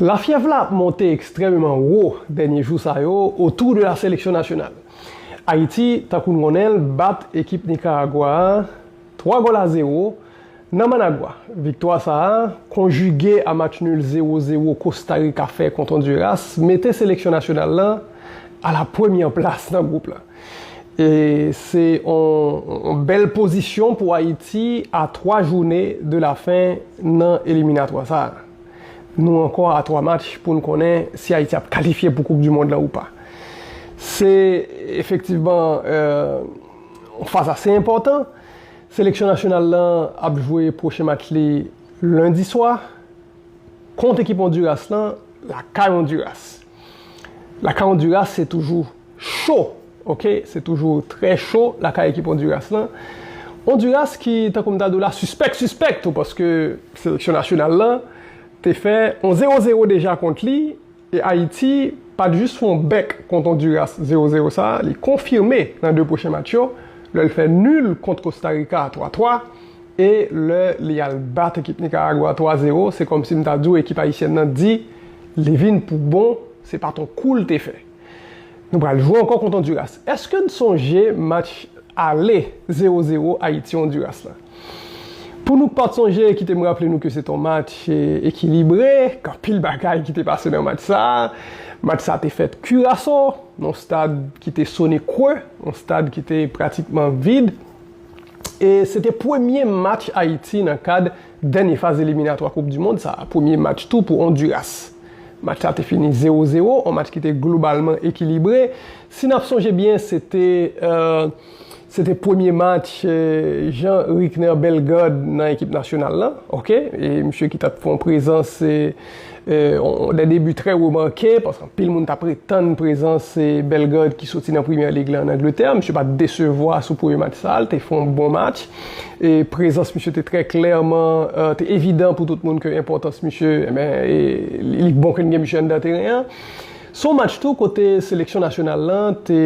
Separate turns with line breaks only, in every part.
Lafyèv la ap monte ekstrèmeman wo dènye jou sa yo otou de la seleksyon nasyonal. Ayiti, tankou n konnen l, bat ekip Nikaragwa a 3 gòl a zewo nan Managwa. Viktwa sa a, konjige a match nul zewo zewo Kosta Rika fè kont Ondiras, mete seleksyon nasyonal lan a la premyè plas nan gwoup lan. Se yon bèl pozisyon pou Ayiti a 3 joune de la fen nan eliminatwa sa. Nou ankò a 3 match pou n konnen si Ayiti ap kalifye pou koup du mond la ou pa. Se efektivman yon faz ase enpòtan. Seleksyon nasyonal la ap jwe pwochen match li lendi swa kont ekip Ondiras la lakay Ondiras. Lakay Honduras se toujou cho ok se toujou trè cho lakay ekip Honduras lan Honduras ki tankou m ta di w la sispèk sispèk tou paske seleksyon nasyonal lan te fè yon 0 0 deja kont li e Ayiti pat jis fè yon bèk kont Honduras 0 0 sa li konfime nan 2 pwochen match yo lè l fè nul kont Kostarika a 3 3. E lè li al bat ekip Nikaragwa 3 zero se kòmsi m ta di w ekip ayisyèn nan di li vin pou bon se pa t on kou l te fè. Nou pral jwe ankò kont Ondiras. Èske n sonje match ale zero zero Ayiti Ondiras la? Pou nou k pa t sonje kite m raple nou ke se t on match ekilibre k anpil bagay ki te pase nan match sa. Match sa te fèt Kiraso nan on stad ki te Sonic Creux, on stad ki te pratikman vid. e se te premye match Ayiti nan kad dènye faz eliminatwa koup di mond sa, premye match tou pou Onduras. Match sa te fini 0 0, on match ki te globalman ekilibre. Si n ap sonje byen se te se te premye match Jean Rickner Bellegarde nan ekip nasyonal la, ok, e misye ki t ap fè on prezans De debi trè remanke, paske anpil moun ta pretann prezans se Bellegarde ki soti nan Premier League la an Angletè. Misye pa t desevwa sou premye match sa a, l te fè yon bon match. E prezans misye te trè klèman, te evidan pou tout moun ke enpòtans misye, enben, li bon ke n gen misye anndan teren an. Se yon match tou kote seleksyon nasyonal lan te,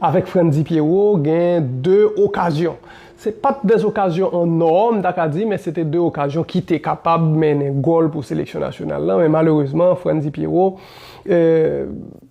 avèk Frantzy Pierrot, gen 2 okazyon. Se pa t de okazyon an nò, m ta ka di, men se te de okazyon ki te kapab mennen gòl pou seleksyon nasyonal la, men malerezman Frantzy Pierrot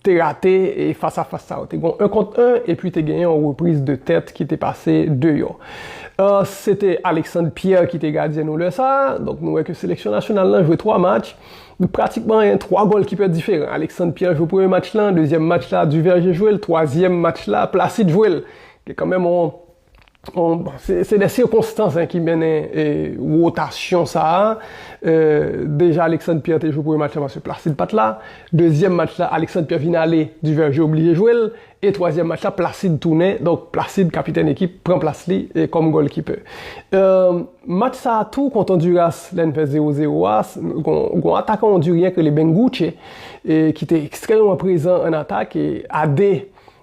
te rate fas a fas sa yo. Te gen yon 1 kont 1 epi te gen yon repriz de tèt ki te pase deyò. Se te Alexandre Pierre ki te gadyen nou lè sa a, donk nou wè ke seleksyon nasyonal la jwe 3 match, pratikman gen 3 golkipè diferan. Alexandre Pierre jwe premye match la, dezyèm match la Duverger jwe l, twazyèm match la Placide jwe l. Gen kanmenm yon. Se de sikonstans ki mennen wotasyon sa a. Deja Alexandre Pierre te jwe premye match la paske Placide pa t la. Dezyèm match la Alexandre Pierre vin ale, Duverger oblije jwe l. E twazyèm match la Placide tounen. Donk Placide, kapitèn ekip, pran plas li kòm gòlkipè. Match sa a tou kont Ondiras, lè n fè zewo zewo a, gon atakan ondiryen ki rele Bengoutche ki te ekstrèmeman prezan ann atak e a 2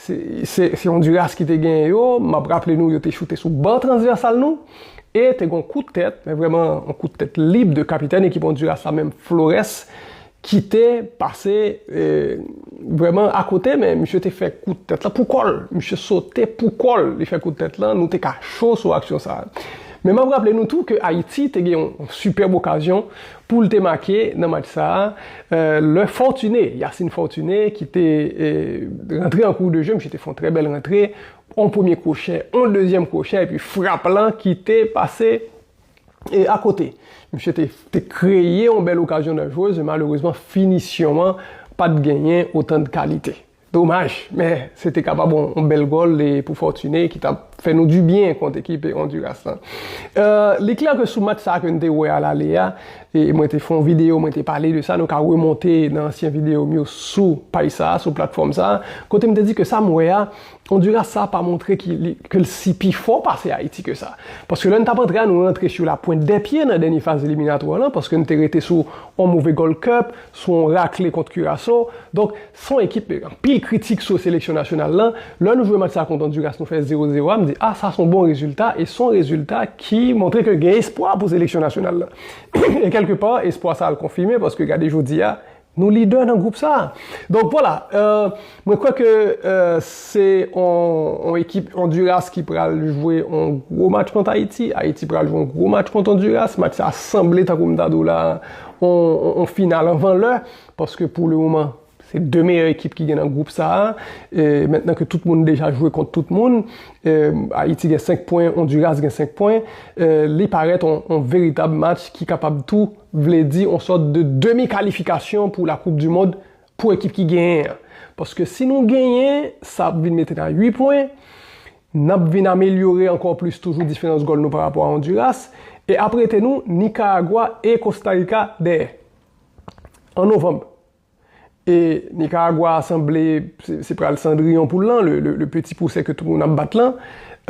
Se Honduras ki te genyen yo, map raple nou yo te choute sou ban transvèsal nou, e te gen yon kout tèt, men vrèman yon kout tèt lib de kapitèn ekip Honduras la menm Flores ki te pase vrèman akote men misye te fè kout tèt la pou kò l, misye sote pou kò l li fè kout tèt la, nou te ka cho sou aksyon sa. Men map raple nou tou ke Ayiti te gen yon sipèb okazyon pou l te make nan match sa a, lè Fortuné, Yacine Fortuné, ki te rantre an kou de je, misye te fè yon trè bèl rantre, yon premye kwochè, yon dezyèm kwochè, epi frap lan ki te pase akote. Misye te kreye yon bèl okazyon nan jwez, men malerezman finisyon an pa t genyen otan de kalite. Domaj, men se te kapab yon bèl gòl pou Fortuné ki tap fè nou du byen kont ekip Honduras lan. Li klè ke sou match sa ke nou te wè a lale a, mwen te fè yon video, mwen te pale de sa, nou ka remonte nan ansyen video m yo sou paj sa, sou platfòm sa, kote m te di ke sa m wè a, Honduras sa pa montre ke l si pi fò pase Ayiti ke sa. Paske lè nou tap antre a, nou rantre sou la pwent dè pye nan dènye faz eliminatwa lan, paske nou te rete sou yon move Gold Cup, sou yon rakle kont Curaçao. Donk, Son ekip ke anpil kritik sou seleksyon nasyonal lan, lè nou jwe match sa kont Honduras nou fè 0 0 a, m di ah sa son bon rezilta e son rezilta ki montre ke gen espwa pou seleksyon nasyonal lan. E kèlke pa, espwa sa al konfime paske gade jodi a, nou lidè nan gwoup sa. Donk vwala, mwen kwè ke se yon ekip Honduras ki pral jwe yon gwo match kont Ayiti, Ayiti pral jwe yon gwo match kont Honduras, match sa sanble tankou m ta di w la yon final anvan lè. Paske pou le moman, se 2 meyè ekip ki gen nan gwoup sa a. Mentnan ke tout moun deja jwe kont tout moun, Ayiti gen 5 pwen, Onduras gen 5 pwen, li parèt yon veritab match ki kapab tou vle di yon sòt de demi kalifikasyon pou la koup di mond pou ekip ki genyen an. Paske si nou genyen, sa ap vin mete nou a 8 pwen, n ap vin amelyore ankò plis toujou diferans gòl nou parapò a Onduras, e ap rete nou Nikaragwa e Kostarika dèyè. an novanm e Nikaragwa a sanble se pral sandriyon poul lan, le peti pwosè ke tout moun ap bat lan.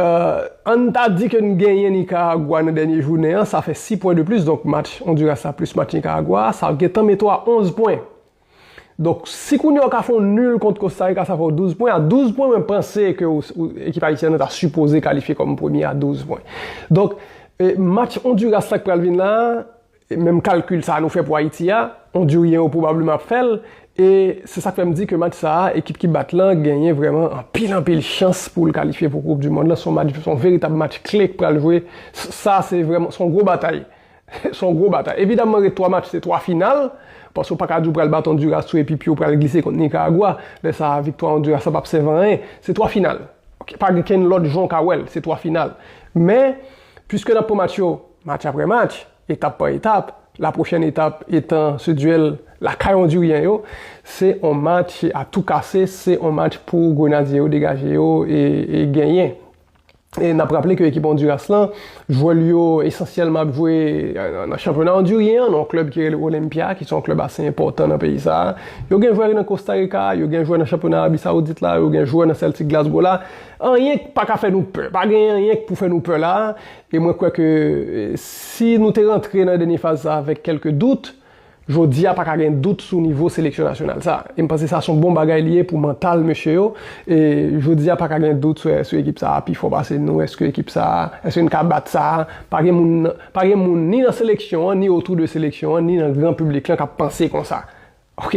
Ann ta di ke n genyen Nikaragwa nan dènye jounen an, sa fè 6 pwen de plis, donk match Ondiras la plis match Nikaragwa a, sa gentan mete w a 11 pwen. Donk, si kounye a w ka fè yon nul kont Kostarika sa fè w 12 pwen, a 12 pwen mwen panse ke ekip Ayisyen an ta sipoze kalifye kòm premye a 12 pwen. Donk, match Ondiras la k pral vin la a, Menm kalkil sa a nou fè pou Ayiti a, Ondiryen yo pwobableman ap fè l. E se sa k fè m di ke match sa a, ekip ki bat lan genyen vrèman anpil anpil chans pou l kalifye pou koup di mond lan. Se yon match, se yon veritab match kle k pral jwe. Sa a se vrèman, se yon gwo batay. Se yon gwo batay. Evidamman ret 3 match se 3 final, paske ou pa ka di ou pral bat Ondiras tou epi pye w pral glise kont Nikaragwa. Lè sa a viktwa Ondiras la p ap sèv anyen. Se 3 final. Pa gen kenn lòt jan w ka wè l. Se 3 final. Men, piske n ap pran match yo Match apre match, etap pa etap, lapwochèn etap etan se duèl lakay Ondiryen yo, se on match a tou kase, se on match pou Grenadye yo degaje yo e genyen. E nap raple ke ekip Ondiras lan, jwè li yo esansyèlman ap jwe nan chanpyona Ondiryen an, nan on klèb ki rele Olenpya, ki se on klèb ase enpòtan nan peyi sa a. Yo gen jwè nan Kosta Rika, yo gen jwè nan chanpyona Arabi Sawoudit la, yo gen jwè nan Sèltik Glasgo la. Anyen k paka fè nou pè, pa gen anyen k pou fè nou pè la a. E mwen kwè ke si nou te rantre nan dènye faz sa avèk kèlke dout, jodi a pa ka gen dout sou nivo seleksyon nasyonal sa. E m panse sa son bon bagay li ye pou mantal mesye yo. E jodi a pa ka gen dout sou ekip sa pi fò pase nou. Eske ekip sa, eske n ka bat sa? Pa gen moun, pa gen moun ni nan seleksyon an, ni otou de seleksyon an, ni nan gran piblik lan k ap panse konsa. Ok.